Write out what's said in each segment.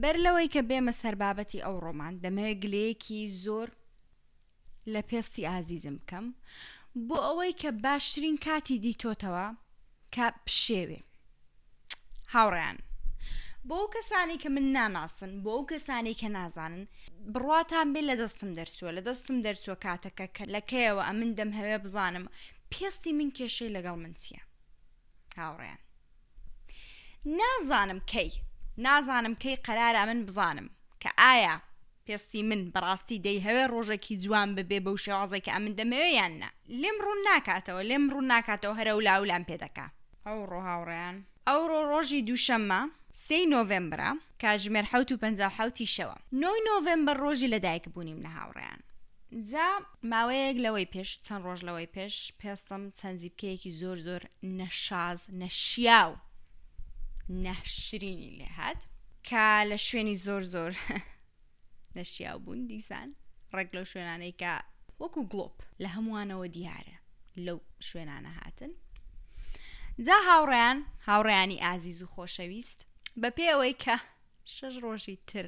بەر لەوەی کە بێمە سەر بابەتی ئەو ڕۆمان دەمەوێت گلەیەکی زۆر لە پێستی ئازیزم بکەم بۆ ئەوەی کە باشترین کاتی دیتۆتەوە کە پشێوێ هاوڕیان بۆ ئەو کەسانی کە من ناناسن بۆ ئەو کەسانی کە نازانن بڕاتان بێ لە دەستم دەرچووە لە دەستم دەرچووە کاتەکە کە لەکەیەوە ئەمن دەم هەوێ بزانم پێستی من کێشەی لەگەڵ من چییە هاوڕێیان نازانم کەی نازانم کەی قەرارە من بزانم کە ئایا پێستی من بەڕاستی دەیهەوێ ڕۆژێکی جوان ببێ بەو شێوازێک کە ئەمن دەمەوێ یان نا لێم ڕوون ناکاتەوە لێم ڕوون ناکاتەوە هەرە و لاولام پێ دەکا ئەو ڕۆ هاوڕێیان ئەوڕۆ ڕۆژی دووشەممە سی نۆڤمبرە کاتژمێر حەوت و پەنجا و حەوت ی شەوە. نۆی نۆڤێمبەر ڕۆژی لەدایکبوونیم لە هاوڕێیان جا ماوەیەک لەوەی پێش چەند ڕۆژ لەوەی پێش پێستم چەند زیپکەیەکی زۆر زۆر نەشاز نەشیاو ناشرینی لێهات کە لە شوێنی زۆر زۆر نەشیاو بوون دیسان ڕێک لەو شوێنانەی کە وەکو گڵۆپ لە هەمووانەوە دیارە لەو شوێنانە هاتن جا هاوڕیان هاوڕیانی ئازیز و خۆشەویست بە پێ ئەوەی کە شەش ڕۆژی تر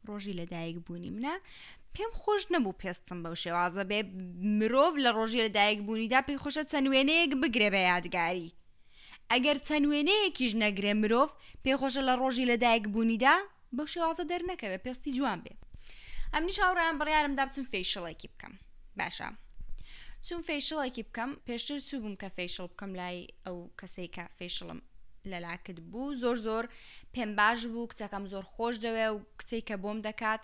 ڕۆژی لەدایک بوونی منە پێم خۆش نەبوو پێستم بەو شێوازە بێ مرۆڤ لە ڕۆژی لەدایک بوونیدا پێی خۆشە چەند وێنەیەک بگرێ بە یادگاری ئەگەر چەند وێنەیەکیش نەگرێ مرۆڤ پێخۆشە لە ڕۆژی لەدایک بوونیدا بەو شێوازە دەرنەکەوێ پێستی جوان بێ ئەمنیش هاوڕێیان بڕیارم دا بچم فەیشڵێکی بکەم باشە چون فەیشڵێکی بکەم پێشتر چوو بووم کە فەیشڵ بکەم لای ئەو کەسەی کە فەیشڵم لەلاکت بوو زۆر زۆر پێم باش بوو کچەکەم زۆر خۆش دەوێ و کچێک کە بۆم دەکات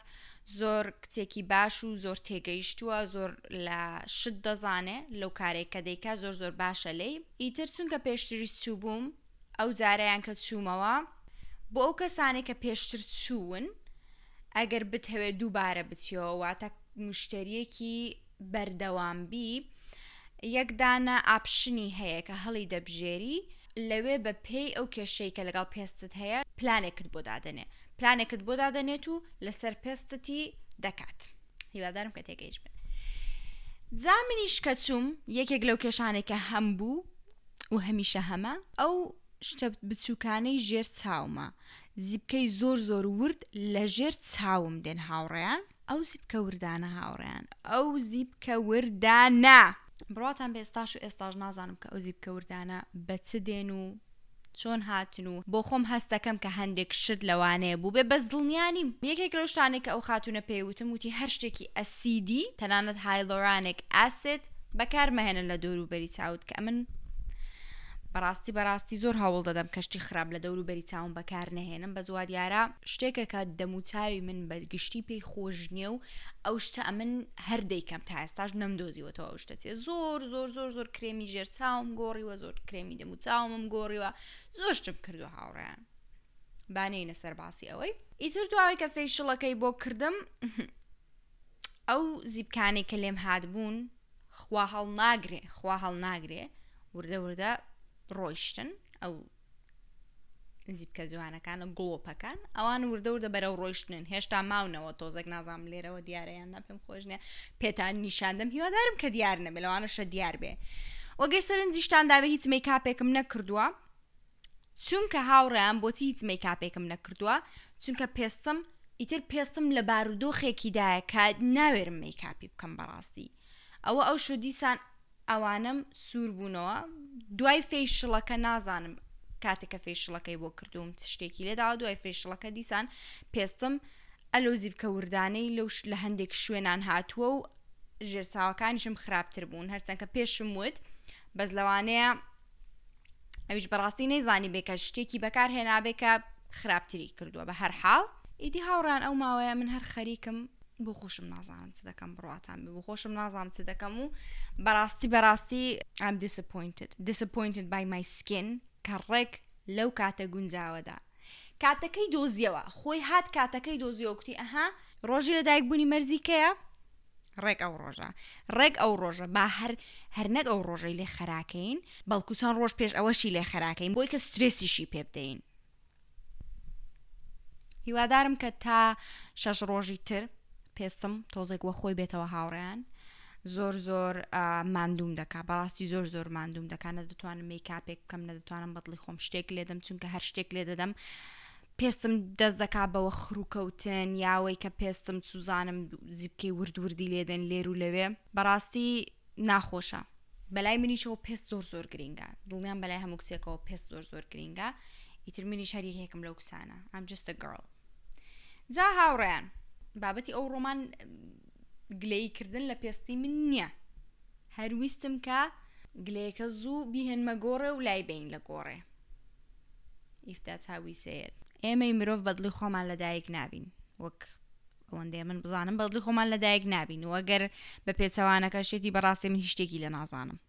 زۆر کچێکی باش و زۆر تێگەیشتووە زۆر لە شت دەزانێ لەو کارێک کە دەیکا زۆر زۆر باشە لی ئیتر چونکە پێشتریش چوو بووم ئەو جارەیان کە چوومەوە بۆ ئەو کەسانێک کە پێشتر چوون ئەگەر بتهەوێت دووبارە بچیەوە واتە مشتریەکی بەردەوام بی یەکدانە ئاپشنی هەیە کە هەڵی دەبژێری لەوێ بە پێی ئەو کێشەی کە لەگەڵ پێستت هەیە پلانێکت بۆ دادەنێ پلانێکت بۆ دادەنێت و لەسەر پێستتی دەکات هیوادارم کە تێگەیش بن جا منیش کە چووم یەکێک لەو کێشانێکە هەم بوو و هەمیشە هەمە ئەو شتە بچوکانەی ژێر چاومە زیپکەی زۆر زۆر ورد لە ژێر چاوم دێن هاوڕێیان. ئەو زیپکە وردانە هاوڕێیان ئەو زیپکە وردانە بڕواتان بە ئێستاش و ئێستاش نازانم کە ئەو زیپکە وردانە بە چ دێن و چۆن هاتن و بۆ خۆم هەستەکەم کە هەندێک شت لەوانەیە بوو بێ بەس دڵنیانیم یەکێک لەو شتانێک کە ئەو خاتونە پێیوتم وتی هەر شتێکی ئەسیدی تەنانەت هایلۆرانێک ئاسێت بەکار مەهێنە لە دەوروبەری چاوت کە ئەمن بەڕاستی بەڕاستی زۆر هەوڵ دەدەم کەشتی خراپ لە دەورو بەری چاوم بەکار نەهێنم بە زووا دیارە شتێکە کە دەموچاوی من بە گشتی پێی خۆش نییە و ئەو شتە ئەمن هەر دەیکەم تا ئێستاش نەمدۆزیوەەوە ئەو شتە چێ زۆر زۆر زۆر زۆر کرێمی ژێر چاوم گۆڕیوە زۆر کرێمی دەموچاومم گۆڕیوە زۆر شتم کردووە هاوڕیان بانەینە سەر باسی ئەوەی ئیتر دواوی کە فێشڵەکەی بۆ کردم ئەو زیپکانەی کە لێم هاتبوون خوا هەڵ ناگرێ خوا هەڵ ناگرێ وردە وردە ڕۆیشتن ئەو زیبکە جوانەکانە گڵۆپەکان ئەوان وردە وردە بەرەو ڕۆیشتنن هێشتا ماونەوە تۆزەک نازام لێرەوە دیارەیان نەپم خۆشنە پێتان نیشاندەم هیوادارم کە دیار نەبێ لەوانەشە دیار بێ وەگەر سەرنجیشتان دابێ هیچ مەی کاپێکم نەکردووە چونکە هاوڕێیان بۆچی هیچ مەیکاپێکم نەکردووە چونکە پێستم ئیتر پێستم لە بارودۆخێکیدایە کە ناوێرم مەیکاپی بکەم بەڕاستی ئەوە ئەو شو دیسان ئەوانم سوور بوونەوە دوای فێشڵەکە نازانم کاتێکە فێشڵەکەی بۆ کردووم شتێکی لێدا دوای فێشڵەکە دیسان پێستم ئەلو زیبکە وردانەی لەو لە هەندێک شوێنان هاتووە و ژێرساوەکانیشم خراپتر بوون هەرچەندکە پێشم وت بەس لەوانەیە ئەویش بەڕاستی نەیزانی بێ کە شتێکی بەکار هێنابێ کە خراپتری کردووە بە هەر حاڵ ئیدی هاوڕان ئەو ماوەیە من هەر خەریکم بۆ خۆشم نازانم چ دەکەم بڕاتان بۆ خۆشم نازانم چ دەکەم و بەڕاستی بەڕاستی ئەم دیسپوینتت دیسپوینتت بای مای سکین کە ڕێک لەو کاتە گونجاوەدا کاتەکەی دۆزیەوە خۆی هات کاتەکەی دۆزیەوە کوتی ئەها ڕۆژی لەدایک بوونی مەرزیکەیە ڕێک ئەو ڕۆژە ڕێک ئەو ڕۆژە با هەر هەر نەک ئەو ڕۆژەی لێ خەراکەین بەڵکو چەند ڕۆژ پێش ئەوەشی لێ خەراکەین بۆی کە سترێسیشی پێ بدەین هیوادارم کە تا شەش ڕۆژی تر پێستم تۆزێک وە خۆی بێتەوە هاوڕیان زۆر زۆر مادوم دەکا بەڕاستی زۆر زۆر مادوم دەکانە دەتوانم میکاپێک بکەم نە دەتوانم بەدڵی خۆم شتێک لێدەم چونکە هەر شتێک لێ دەدەم پێستم دەست دەکا بە وەخروکەوتن یا ئەوەی کە پێستم سوزانم زیپکەی ورد وردی لێدێن لێر و لەوێ بەڕاستی ناخۆشە بەلای منیشەوە پێست زۆر زۆر گرینگە دڵنیان بەلای هەموو کچێکەوە پێست زۆر زۆر گرینگە ئیتر منیش هەر یەکێکم لەو کچانە ئەم جستە گڕڵ جا هاوڕیان بابەتی ئەو ڕۆمان گلەی کردن لە پێستی من نییە هەرویستم کە گلەیەکە زوو بیهێنمە گۆڕێ و لای بین لە گۆڕێ ئیفتا چاوی سێیەل ئێمەی مرۆڤ بەدڵی خۆمان لە دایک نابین وەک ئەوەندەیە من بزانم بەدڵی خۆمان لە دایک نابین و ئەگەر بە پێچەوانەکە شێتی بەڕاستی من هیشتێکی لە نازانم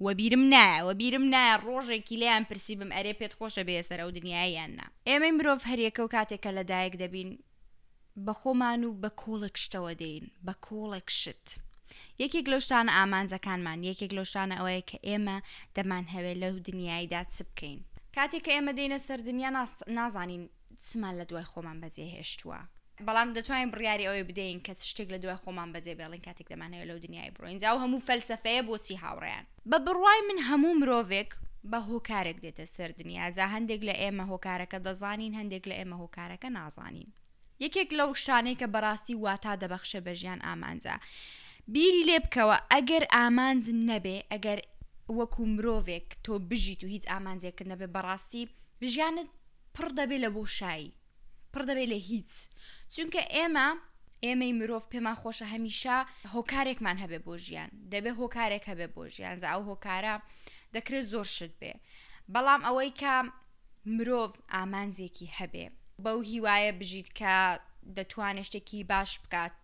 وەبیرم نایە وەبیرم نایە ڕۆژێکی لیان پرسی بم ئەرێ پێت خۆشە بێسەر ئەو دنیایان نا ئێمەی مرۆڤ هەریەکە و کاتێکە لە دایک دەبین بە خۆمان و بە کۆڵێک شتەوە دێین بە کۆڵێک شت یەکێک لەو شتانە ئامانجەکانمان یەکێک لەو شتانە ئەوەیە کە ئێمە دەمان هەوێ لەو دنیایدا چ بکەین کاتێک کە ئێمە دێنە سەر دنیا نازانین چمان لە دوای خۆمان بەجێ هێشتووە بەڵام دەتوانین بڕیاری ئەوەی بدەین کە شتێک لە دوای خۆمان بەجێ بێڵین کاتێک دەمانەوە لەو دنیای بڕۆین جاو هەموو فەلسفەیە بۆچی هاوڕیان بە بڕوای من هەموو مرۆڤێک بە هۆکارێک دێتە سەر دنیا، جا هەندێک لە ئێمە هۆکارەکە دەزانین، هەندێک لە ئێمە هۆکارەکە نازانین. یەکێک لەو شتانەی کە بەڕاستی واتا دەبەخشێ بە ژیان ئامانجە. بیری لێ بکەوە ئەگەر ئامانج نەبێ، ئەگەر وەکو مرۆڤێک تۆ بژیت و هیچ ئامانجێکت نەبێ، بەڕاستی ژیانت پڕ دەبێ لە بۆشایی. پڕ دەبێت لە هیچ چونکە ئێمە ئێمەی مرۆڤ پێمان خۆشە هەمیشە هۆکارێکمان هەبێ بۆ ژیان دەبێ هۆکارێک هەبێ بۆ ژیان ئەو هۆکارە دەکرێت زۆر شت بێ بەڵام ئەوەی کە مرۆڤ ئامانجێکی هەبێ بەو هیوایە بژیت کە دەتوانێت شتێکی باش بکات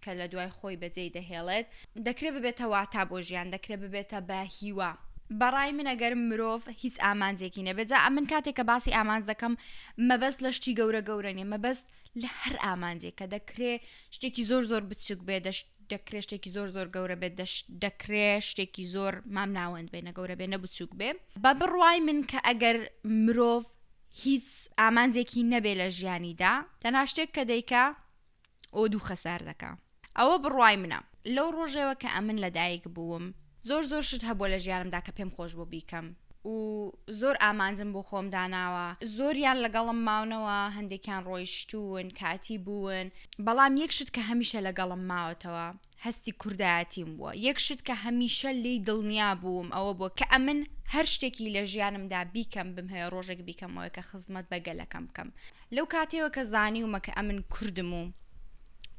کە لە دوای خۆی بەجێی دەهێڵێت، دەکرێت ببێتە واتا بۆ ژیان، دەکرێت ببێتە بە هیوا. بە ڕای من ئەگەر مرۆڤ هیچ ئامانجێکی نەبێت، جا من کاتێک کە باسی ئامانج دەکەم، مەبەست لە شتی گەورە گەورە نییە، مەبەست لە هەر ئامانجێکە، دەکرێت شتێکی زۆر زۆر بچووک بێت، دەشت دەکرێت شتێکی زۆر زۆر گەورە بێت، دەشت دەکرێت شتێکی زۆر مامناوەند بێت، نە گەورە بێت نە بچووک بێت. بە بڕوای من کە ئەگەر مرۆڤ هیچ ئامانجێکی نەبێت لە ژیانیدا، تەنها شتێک کە دەیکا، ئەوە دوو خەسار دەکا ئەوە بڕوای منە لەو ڕۆژێوە کە ئەمن لەدایک بووم زۆر زۆر شت هەبووە لە ژیانمدا کە پێم خۆش بۆ بیکەم و زۆر ئامانجم بۆ خۆم داناوە زۆریان لەگەڵم ماونەوە هەندێکیان ڕۆیشتوون کاتی بوون بەڵام یەک شت کە هەمیشە لەگەڵم ماوەتەوە هەستی کوردایەتیم بووە، یەک شت کە هەمیشە لێی دڵنیا بووم ئەوە بووە کە ئەمن هەر شتێکی لە ژیانمدا بیکەم بمهەوێ ڕۆژێک بیکەمەوە کە خزمەت بە گەلەکەم بکەم. لەو کاتەیەوە کە زانیومە کە ئەمن کوردم و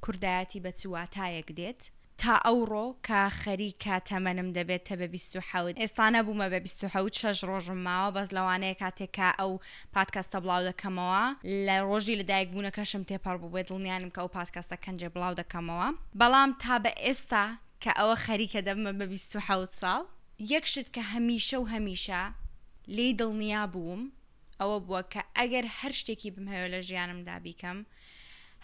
کوردایەتی بە چ واتایەک دێت، تا ئەوڕۆ کە خەریکە تەمەنم دەبێتە بە بیست و حەوت، ئێستا نەبوومە بە بیست و حەوت شەش ڕۆژم ماوە بەس لەوانەیە کاتێک کە ئەو پادکەستە بڵاو دەکەمەوە لە ڕۆژی لە دایک بوونەکەشم تێپەڕ بوو بێ دڵنیانم کە ئەو پادکەستە کەنجێ بڵاو دەکەمەوە بەڵام تا بە ئێستا کە ئەوە خەریکە دەبمە بە بیست و حەوت ساڵ یەک شت کە هەمیشە و هەمیشە لێی دڵنیا بووم ئەوە بووە کە ئەگەر هەر شتێکی بمهەوێ لە ژیانمدا بیکەم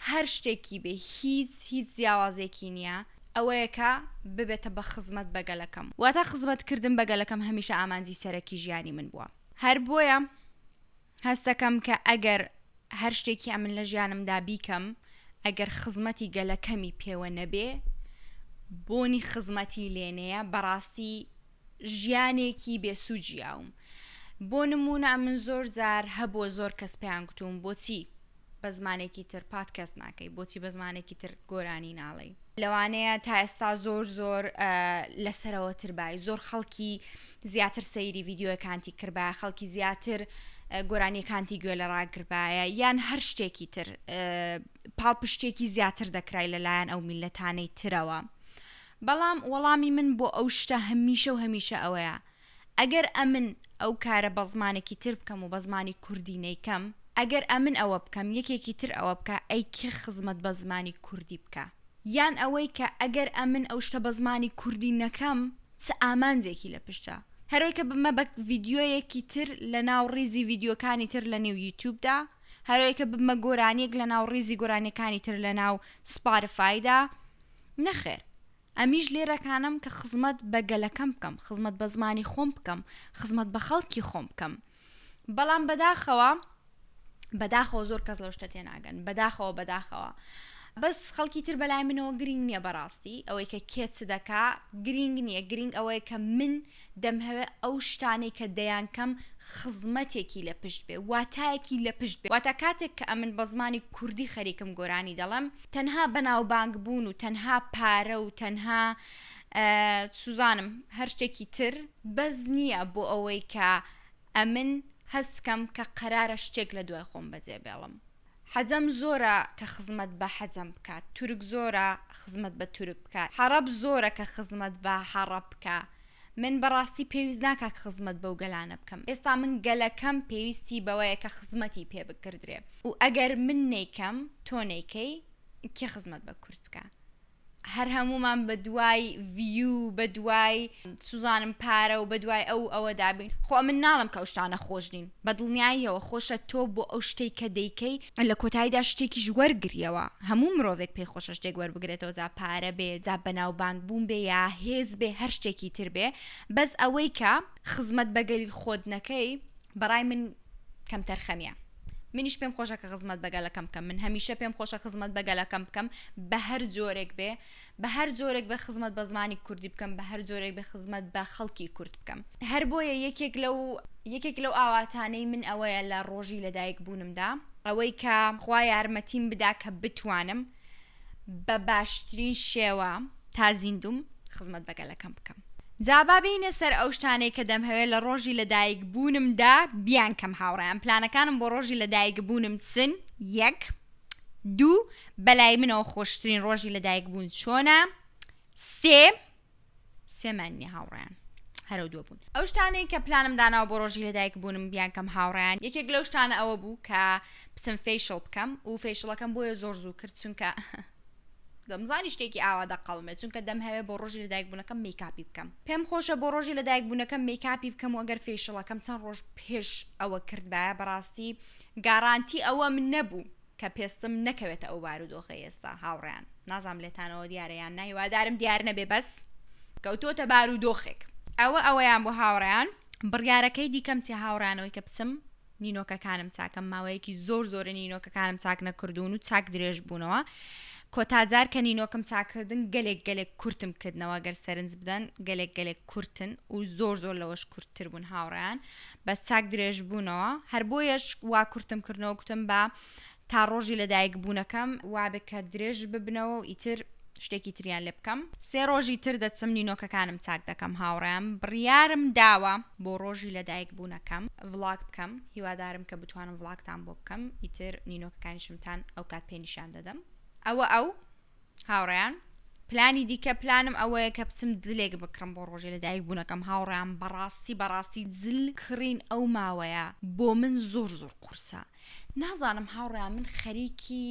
هەر شتێکی بێ هیچ هیچ جیاوازێکی نییە ئەوەیەکە ببێتە بە خزمەت بەگەلەکەم واتە خزمەتکردن بەگەلەکەم هەمیشە ئامانجی سەرەکی ژیانی من بووە هەر بۆیە هەست دەکەم کە ئەگەر هەر شتێکی ئەمن لە ژیانمدا بیکەم ئەگەر خزمەتی گەلەکەمی پێوە نەبێ بۆنی خزمەتی لێنەیە بەڕاستی ژیانێکی بێسوجیاوم بۆ نمونە من زۆر جار هەبووە زۆر کەس پێیان گوتوم بۆچی بە زمانێکی تر پات کەست ناکەی بۆچی بە زمانێکی تر گۆرانی ناڵی لەوانەیە تا ئێستا زۆر زۆر لەسەرەوە تربای زۆر خەڵکی زیاتر سەیری ڤیددیوەکانتی کردبا خەڵکی زیاتر گۆرانیەکانتی گوێ لە ڕاگربایە یان هەر شتێکی تر پاڵپشتێکی زیاتر دەکرای لەلایەن ئەو میلەتانەی ترەوە بەڵام وەڵامی من بۆ ئەو شتە هەمیشە و هەمیشە ئەوەیە ئەگەر ئەمن ئەو کارە بە زمانێکی تر بکەم و بە زمانی کوردی نەیکەم، ئەگەر ئەمن ئەوە بکەم یەکێکی تر ئەوە بکا ئەی کێ خزمەت بە زمانی کوردی بکا؟ یان ئەوەی کە ئەگەر ئەمن ئەو شتە بە زمانی کوردی نەکەم چ ئامانجێکی لە پشتە؟ هەرۆی کە بمە بە ڤیدیۆیەکی تر لە ناو ڕیزی ڤیدیۆکانی تر لە نێو یوتیوب دا، هەرۆی کە ببمە گۆرانیەک لە ناو ڕیزی گۆرانیەکانی تر لە ناو سپارفای دا؟ نەخێر. ئەمیش لێرەکانم کە خزمەت بە گەلەکەم بکەم، خزمەت بە زمانی خۆم بکەم، خزمەت بە خەڵکی خۆم بکەم. بەڵام بەداخەوە، بەداخەوە زۆر کەس لەو شتە تێناگەن، بەداخەوە، بەداخەوە. بەس خەڵکی تر بەلای منەوە گرینگ نییە بەڕاستی، ئەوەی کە کێ چ دەکا گرینگ نییە، گرینگ ئەوەیە کە من دەمهەوێ ئەو شتانەی کە دەیانکەم خزمەتێکی لە پشت بێ، واتایەکی لە پشت بێ. واتە کاتێک کە ئەمن بە زمانی کوردی خەریکم گۆرانی دەڵێم، تەنها بەناوبانگ بوون و تەنها پارە و تەنها سوزانم هەر شتێکی تر بەس نییە بۆ ئەوەی کە ئەمن هەست کەم کە قەرارە شتێک لە دوای خۆم بەجێ بێڵم. حەجەم زۆرە کە خزمەت بە حەجەم بکا تورک زۆرە خزمەت بە تورک بکا حەڕەب زۆرە کە خزمەت بە حەڕەب بکا من بەڕاستی پێویست ناکا خزمەت بەو گەلانە بکەم ئێستا من گەلەکەم پێویستی بەوەیە کە خزمەتی پێ بکردرێ و ئەگەر من نەیکەم تۆ نەیکەی کێ خزمەت بە کورد بکا؟ هەر هەموومان بە دوای ڤیو بە دوای سوزانم پارە و بە دوای ئەو ئەوە دابین خۆ من ناڵم کە شتانە خۆش نین بە دڵنیاییەوە خۆشە تۆ بۆ ئەو شتێک کە دەیکەی لە کۆتاییدا شتێکیش وەرگریەوە هەموو مرۆڤێک پێی خۆشە شتێک وەربگرێتەوە جا پارە بێ جا بەناوبانگ بوون بێ یا هێز بێ هەر شتێکی تر بێ بەس ئەوەی کە خزمەت بەگەلی خۆت نەکەی بەڕای من کەمتەرخەمیە منیش پێم خۆشە کە خزمەت بە گەلەکەم بکەم من هەمیشە پێم خۆشە خزمەت بە گەلەکەم بکەم بە هەر جۆرێک بێ بە هەر جۆرێک بە خزمەت بە زمانی کوردی بکەم بە هەر جۆرێک بە خزمەت بە خەڵکی کورد بکەم هەر بۆیە یەکێک لەو یەکێک لەو ئاواتانەی من ئەوەیە لە ڕۆژی لەدایک بوونمدا ئەوەی کە خوا یارمەتیم بدا کە بتوانم بە باشترین شێوە تا زیندوم خزمەت بە گەلەکەم بکەم جا با بێینە سەر ئەو شتانەی کە دەمهەوێ لە ڕۆژی لەدایک بوونمدا بیانکەم هاوڕێیان پلانەکانم بۆ ڕۆژی لەدایک بوونم چن یەک دوو بەلای منەوە خۆشترین ڕۆژی لەدایک بوون چۆنە سێ سێمان نیە هاوڕێیان هەرەو دووە بوون ئەو شتانەی کە پلانم داناوە بۆ ڕۆژی لەدایک بوونم بیان کەم هاوڕیان یەکێک لەو شتانە ئەوە بوو کە بچم فیشڵ بکەم و فیشڵەکەم بۆیە زۆر زوو کرد چونکە دەمزانی شتێکی ئاوا دەقڵمێ چونکە دەم هەوێ بۆ ڕۆژی لەدایک بوونەکەم میکاپی بکەم پێم خۆشە بۆ ڕۆژی لەدایک بوونەکەم میکاپی بکەم و ئەگەر فیشڵەکەم چەند ڕۆژ پێش ئەوە کردبایە بەڕاستی گارانتی ئەوەم نەبوو کە پێستم نەکەوێتە ئەو بارودۆخەی ئێستا هاوڕێیان نازام لێتانەوە دیارە یان نای وادارم دیار نەبێ بەس کەوتۆتە بارودۆخێک ئەوە ئەوەیان بۆ هاوڕێیان بڕیارەکەی دیکەم چی هاوڕانەوەی کە بچم نینۆکەکانم چاکەم ماوەیەکی زۆر زۆرە نینۆکەکانم چاک نەکردوون و چاک درێژ بوونەوە کۆتاجار کە نینۆکم چاکردن گەلێک گەلێک کورتم کردنەوە گەر سەرنج بدەن گەلێک گەلێک کورتن و زۆر زۆر لەوەش کورتتر بوون هاوڕیان بەس چاک درێژ بوونەوە هەر بۆیەش وا کورتم کردنەوە گوتم با تا ڕۆژی لەدایک بوونەکەم وابێ کە درێژ ببنەوە و ئیتر شتێکی تریان لێ بکەم سێ ڕۆژی تر دەچم نینۆکەکانم چاک دەکەم هاوڕیان بڕیارم داوە بۆ ڕۆژی لەدایک بوونەکەم ڤڵاگ بکەم هیوادارم کە بتوانم ڤڵاگتان بۆ بکەم ئیتر نینۆکەکانیشمتان ئەو کات پێنیشان دەدەم ئەوە ئەو هاوڕێیان، پلانی دیکە پلانم ئەوەیە کە بچم جلێک بکڕم بۆ ڕۆژی لەدایک بوونەکەم هاوڕێیان بەڕاستی بەڕاستی جل کڕین ئەو ماوەیە بۆ من زۆر زۆر قورسە نازانم هاوڕێیان من خەریکی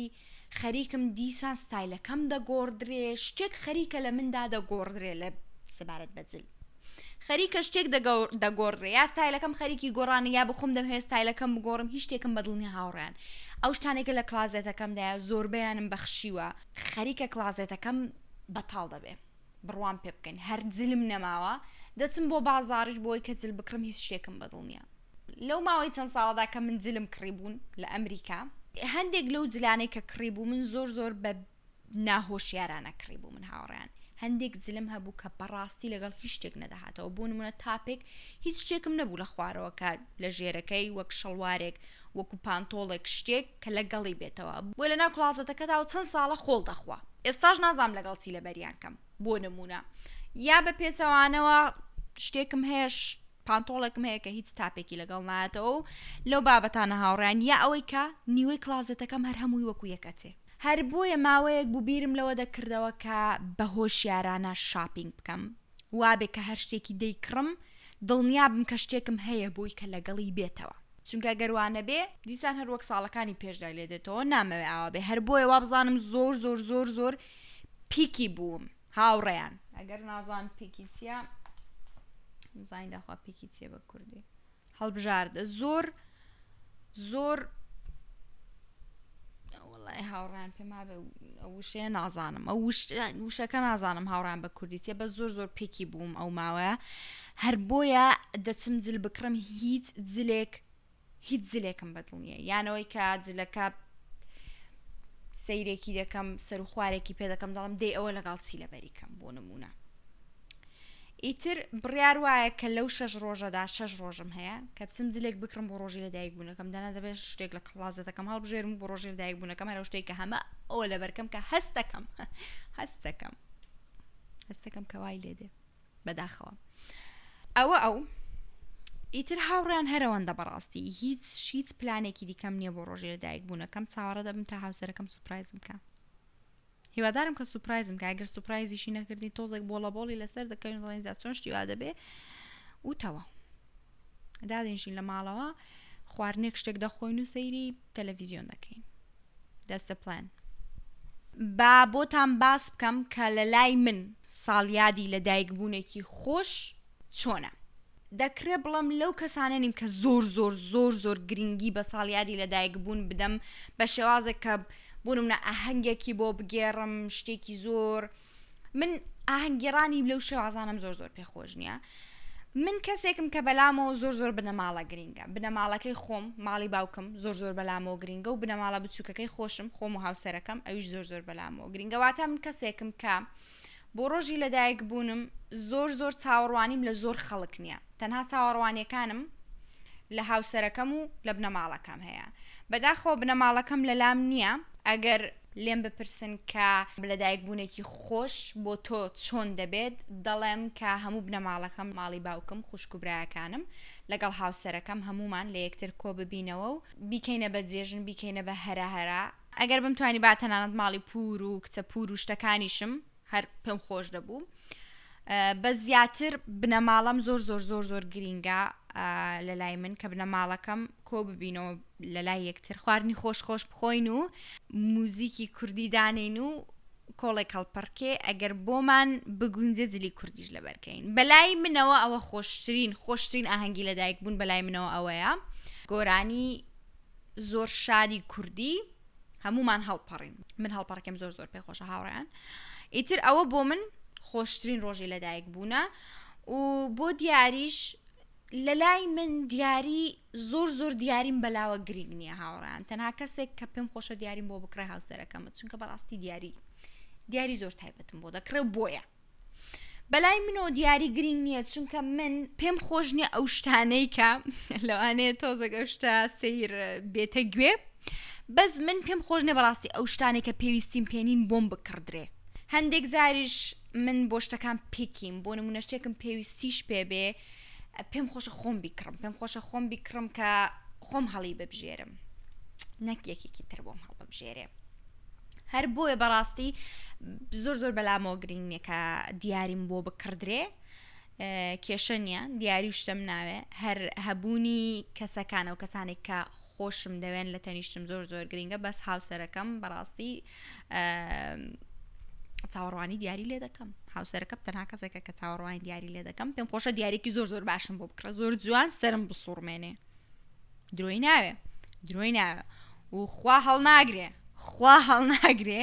خەریکم دیسان ستایلەکەم دەگۆڕدرێ شتێک خەریکە لە مندا دەگۆڕدرێ لە سەبارەت بە جل خەریکە شتێک دەگۆڕێ یا ستایلەکەم خەریکی گۆڕانە یا بخۆم دەم هەیە ستایلەکەم بگۆڕم هیچ شتێکم بەدڵنی هاوڕیان ئەو شتانێکە لە کلازێتەکەمدایە زۆربیانم بەخشیوە خەریکە کلازێتەکەم بەتاڵ دەبێ بڕوام پێ بکەین هەر جلم نەماوە دەچم بۆ بازاڕش بۆی کە جل بکڕم هیچ شتێکم بەدڵ نییە لەو ماوەی چەند ساڵدا کە من جلم کڕی بوون لە ئەمریکا هەندێک لەو جلانەی کە کڕی بوو من زۆر زۆر بە ناهۆشیارانە کڕی بوو من هاوڕیان هەندێک زلم هەبوو کە بەڕاستی لەگەڵ هیچ شتێک نەدەهاتەوە بوون منە تاپێک هیچ شتێکم نەبوو لە خوارەوە کە لە ژێرەکەی وەک شەڵوارێک وەکو پانتۆڵێک شتێک کە لە گەڵی بێتەوە بۆ لە ناو کلازەتەکەدا و چەند ساڵە خۆڵ دەخوا ئێستاش نازام لەگەڵ چی لە بەریان کەم بۆ نمونە یا بە پێچەوانەوە شتێکم هەیەش پانتۆڵێکم هەیە کە هیچ تاپێکی لەگەڵ نایەتەوە و لەو بابەتانە هاوڕیان یا ئەوەی کە نیوەی کلازەتەکەم هەر هەمووی وەکو یەکەتێ هەر بۆیە ماوەیەک بوو بیرم لەوە دەکردەوە کە بە هۆشیارانە شاپینگ بکەم، وابێ کە هەر شتێکی دەیکڕم دڵنیا بم کە شتێکم هەیە بۆی کە لەگەڵی بێتەوە، چونکە گەر وا نەبێ دیسان هەر وەک ساڵەکانی پێشدای لێ دێتەوە، نامەوێ ئاوا بێ، هەر بۆیە وا بزانم زۆر زۆر زۆر زۆر پیکی بووم هاوڕێیان. ئەگەر نازان پیکی چییە بزانین داخوا پیکی چییە بە کوردی. هەڵبژارد زۆر زۆر وڵی هاوڕان پێما وشەیە نازانم ئەو وشەکە نازانم هاوڕان بە کوردیتە بە زۆر زۆر پێکی بووم ئەو ماوەیە هەر بۆیە دەچم جل بکڕم هیچ جلێک هیچ جلێکم بەدڵ نییە یانەوەی کە جلەکە سەیرێکی دەکەم سەر و خوارێکی پێ دەکەم دەڵم دەی ئەوە لەگەڵ چی لەبەریکەم بۆ نمونە ئیتر بڕیار وایە کە لەو شەش ڕۆژەدا شەش ڕۆژم هەیە کە بچم جلێک بکڕم بۆ ڕۆژی لەدایک بوونەکەم دەنا دەبێت شتێک لە کڵازەتەکەم هەڵبژێرم و بۆ ڕۆژی لەدایک بوونەکەم هەرە شتێک کە هەمە ئەوە لەبەرکەم کە هەستەکەم هەستەکەم هەستەکەم کەوای لێ دێ بەداخەوە ئەوە ئەو ئیتر هاوڕیان هەرەوەندە بەڕاستی هیچ هیچ پلانێکی دیکەم نییە بۆ ڕۆژێ لەدایک بوونەکەم چاوەڕە دەبم تا هاوسەرەکەم سوپایزم بکە هیوادارم کە سوپرایزم کە ئەگەر سوپرایزیشی نەکردین تۆزێک بۆڵە بۆڵی لەسەر دەکەین دڵێن جا چۆن شتیوا دەبێ وتەوە دادێنشین لە ماڵەوە خواردنێک شتێک دەخۆین و سەیری تەلەڤیزیۆن دەکەین دەستە پلان با بۆتان باس بکەم کە لە لای من ساڵیادی لە دایکبوونێکی خۆش چۆنە دەکرێ بڵێم لەو کەسانە نیم کە زۆر زۆر زۆر زۆر گرنگی بە ساڵیادی لەدایک بوون بدەم بە شێوازێک کە بوونم نە ئاهەنگێکی بۆ بگێڕم شتێکی زۆر من ئاهەنگگیرانی لەو شێوازانم زۆر زۆر پێخۆش نییە من کەسێکم کە بەلامەوە زۆر زۆر بنەماڵە گرینگە بنەماڵەکەی خۆم ماڵی باوکم زۆر زۆر بەلامەوە گرینگە و بنەماڵە بچووکەکەی خۆشم خۆم و هاوسەرەکەم ئەویش زۆر زۆر بەلامەوە گرینگەواتە من کەسێکم کە بۆ ڕۆژی لەدایک بوونم زۆر زۆر چاوەڕوانیم لە زۆر خەڵک نییە تەنها چاوەڕوانیەکانم لە هاوسەرەکەم و لە بنەماڵەکەم هەیە بەداخەوە بنەماڵەکەم لەلام نییە ئەگەر لێم بپرسن کە لەدایک بوونێکی خۆش بۆ تۆ چۆن دەبێت دەڵێم کە هەموو بنەماڵەکەم ماڵی باوکم خوشک و برایەکانم لەگەڵ هاوسەرەکەم هەمومان لە یەکتر کۆ ببینەوە و بیکەینە بە جێژن بیکەینە بە هەرا هەرا ئەگەر بمتوانیبا تەنانەت ماڵی پوور و کچە پوور و شتەکانیشم هەر پێم خۆش دەبوو بە زیاتر بنەماڵەم زۆر زۆر زۆر زۆر گرینگە لە لای من کە بنەماڵەکەم کۆ ببینەوە لە لای یەکتر خواردنی خۆش خۆش بخۆین و موزیکی کوردی دانین و کۆڵێک کەڵپڕکێ ئەگەر بۆمان بگونجێ جلی کوردیش لە بەرکەین بەلای منەوە ئەوە خۆشترین خۆشترین ئاهەنگی لەدایک بوون بەلای منەوە ئەوەیە گۆرانی زۆر شاری کوردی هەمومان هەڵپەڕین من هەڵپەڕکەم زۆر زۆر پێ خۆشە هاوڕیان ئیتر ئەوە بۆ من خۆشترین ڕۆژی لەدایک بوونە و بۆ دیاریش لە لای من دیاری زۆر زۆر دیاریم بەلاوە گرنگ نییە هاوڕان تەنها کەسێک کە پێم خۆشە دیاریم بۆ بکڕێ هاوسەرەکەمە چونکە بەڕاستی دیاری دیاری زۆر تایبەتم بۆ دەکڕێ بۆیە بەلای منۆ دیاری گرنگ نییە چونکە من پێم خۆش نییە ئەو شتانەی کە لەوانەیە تۆزەگە شتە سیر بێتە گوێ بەس من پێم خۆش نێ بەڕاستی ئەو شتانێک کە پێویستیم پێنین بۆم بکڕدرێ هەندێک زاریش من بۆ شتەکان پێکیم بۆ نمونە شتێکم پێویستیش پێبێ پێم خۆشە خۆم بیکڕم پێم خۆشە خۆم بیکڕم کە خۆم هەڵی ببژێرم نەک یەکێکی تر بۆم هەڵببژێرێ هەر بۆیە بەڕاستی زۆر زۆر بەلامەوە گرنگ نیە کە دیاریم بۆ بکڕدرێ کێشە نیە دیاری و شتم ناوێ هەر هەبوونی کەسەکانە و کەسانێک کە خۆشم دەوێن لە تەنیشتم زۆر زۆر گرنگە بەس هاوسەرەکەم بەڕاستی چاوەڕوانی دیاری لێ دەکەم هاوسەرەکە تەنها کەسێکە کە چاوەڕوانی دیاری لێ دەکەم پێم خۆشە دیارێکی زۆر زۆر باشم بۆ بکڕە زۆر جوان سرم بسوڕمێنێ درۆی ناوێ درۆی ناوێ و خوا هەڵناگرێ خوا هەڵناگرێ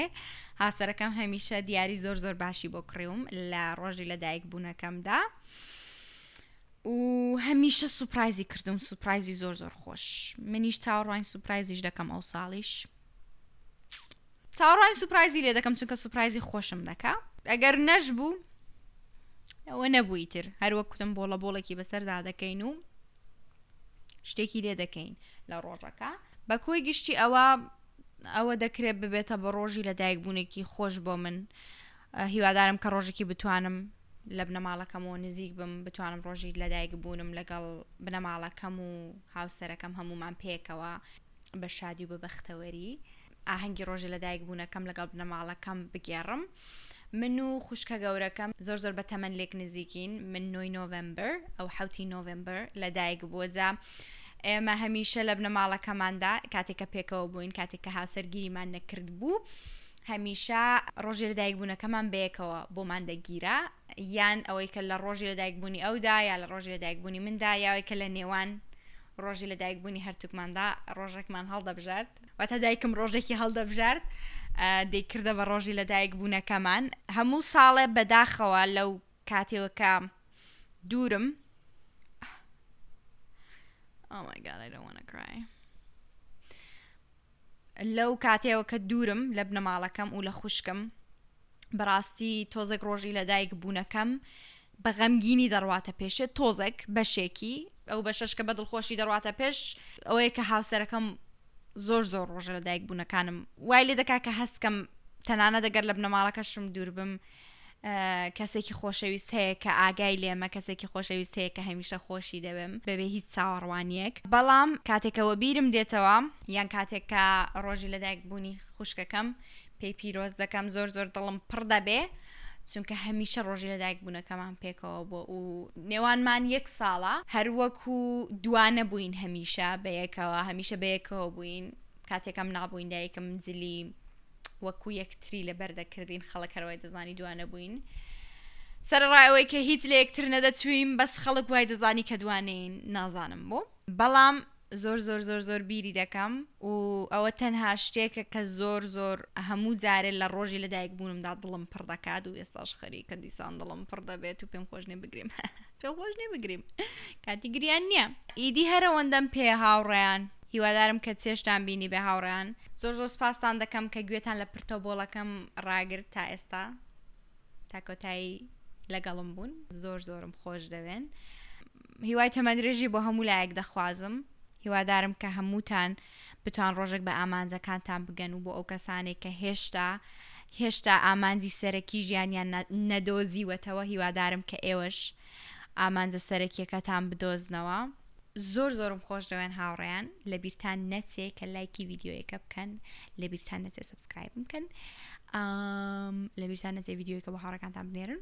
هاسەرەکەم هەمیشە دیاری زۆر زۆر باشی بۆ کڕیوم لە ڕۆژی لە دایک بوونەکەمدا و هەمیشە سوپرایزی کردم سوپرایزی زۆر زۆر خۆش منیش چاوەڕوانی سوپرایزیش دەکەم ئەو ساڵیش چاوەڕوانی سوپرایزی لێ دەکەم چونکە سوپرایزی خۆشم دەکا ئەگەر نەشبوو ئەوە نەبووی تر هەروەک کوتم بۆڵە بۆڵێکی بەسەردا دەکەین و شتێکی لێ دەکەین لە ڕۆژەکە بە کۆی گشتی ئەوە ئەوە دەکرێت ببێتە بە ڕۆژی لە دایکبوونێکی خۆش بۆ من هیوادارم کە ڕۆژێکی بتوانم لە بنەماڵەکەمەوە نزیک بم بتوانم ڕۆژی لەدایک بوونم لەگەڵ بنەماڵەکەم و هاوسەرەکەم هەمومان پێکەوە بە شادی و بە بەختەوەری ئاهەنگی ڕۆژی لەدایک بوونەکەم لەگەڵ بنەماڵەکەم بگێڕم من و خوشکە گەورەکەم زۆر زۆر بە تەمەن لێک نزیکین من نۆی نۆڤمبر ئەو حوتی نۆڤمبر لەدایک بووە جا ئێمە هەمیشە لە بنەماڵەکەماندا کاتێکە پێکەوە بووین کاتێک کە هاوسەرگیریمان نەکرد بوو هەمیشە ڕۆژی لەدایک بوونەکەمان بەیەکەوە بۆمان دەگیرا یان ئەوەی کە لە ڕۆژی لەدایکبوونی ئەودا یا لە ڕۆژی لەدایکبوونی مندا یاوەی کە لە نێوان ڕۆژی لەدایکبوونی هەرتوکماندا ڕۆژێکمان هەڵدەبژارد واتە دایکم ڕۆژێکی هەڵدەبژارد دەیکردە بە ڕۆژی لەدایک بوونەکەمان هەموو ساڵێ بەداخەوە لەو کاتێوەکە دوورم oh my god I don't want to cry لەو کاتەوە کە دوورم لە بنەماڵەکەم و لە خوشکم بەڕاستی تۆزێک ڕۆژی لە دایک بوونەکەم بە غەمگینی دەڕواتە پێشێ تۆزێک بەشێکی ئەو بە شش کە بە دڵخۆشی دەڕاتە پێش ئەوەیە کە هاوسەرەکەم زۆر زۆر ڕۆژە لە دایک بوونەکانم وای لێ دەکا کە هەستکەم تەنانە دەگەر لە بنەماڵەکەشم دووربم کەسێکی خۆشەویست هەیە کە ئاگای لێمە کەسێکی خۆشەویست هەیە کە هەمیشە خۆشی دەوێم بەبێ هیچ چاوەڕوانیەک بەڵام کاتێکەوە بیرم دێتەوە یان کاتێک کە ڕۆژی لەدایک بوونی خوشکەکەم پێی پیرۆز دەکەم زۆر زۆر دڵم پڕ دەبێ چونکە هەمیشە ڕۆژی لەدایک بوونەکەمان پێکەوە بۆ و نێوانمان یەک ساڵە هەروەکو دوانە بووین هەمیشە بەیەکەوە هەمیشە بەیەکەوە بووین کاتێکم نابووین دایکم جلی وەکو یەکتری لەبەر دەکردین خەڵک هەر وای دەزانی دوانە بووین سەرڕای ئەوەی کە هیچ لە یەکتر نەدەچوویم بەس خەڵک وای دەزانی کە دوانین نازانم بۆ بەڵام زۆر زۆر زۆر زۆر بیری دەکەم و ئەوە تەنها شتێکە کە زۆر زۆر هەموو جارێ لە ڕۆژی لە دایک بوونمدا دڵم پڕ دەکات و ئێستاش خەریکە دیسان دڵم پڕ دەبێت و پێم خۆشنێ بگریم تۆ خۆش نی بگریم کاتی گریان نییە ئیدی هەرەوەندەم پێ هاوڕێیان هیوادارم کە چێشتان بینی بێ هاوڕێیان زۆر زۆر سپاستان دەکەم کە گوێتان لە پرتە بۆڵەکەم ڕاگرت تا ئێستا تاکۆتایی لەگەڵم بوون زۆر زۆرم خۆش دەوێن هیوای تەمەندرێژی بۆ هەموو لایەک دەخوازم هیوادارم کە هەمووتان بتوان ڕۆژێک بە ئامانجەکانتان بگەن و بۆ ئەو کەسانێک کە هێشتا هێشتا ئامانجی سەرەکی ژیانیان نەدۆزیوەتەوە هیوادارم کە ئێوەش ئامانجە سەرەکیەکەتان بدۆزنەوە زۆر زۆرم خۆش دەوێن هاوڕێیان لە بیرتان نەچێ کە لایکی یددیوەکە بکەن لە بیرتان نەچێ سبسکرایب بکەن لە بیرتان نەچێ یددیوەکە بە هاڕەکانتان بنێرن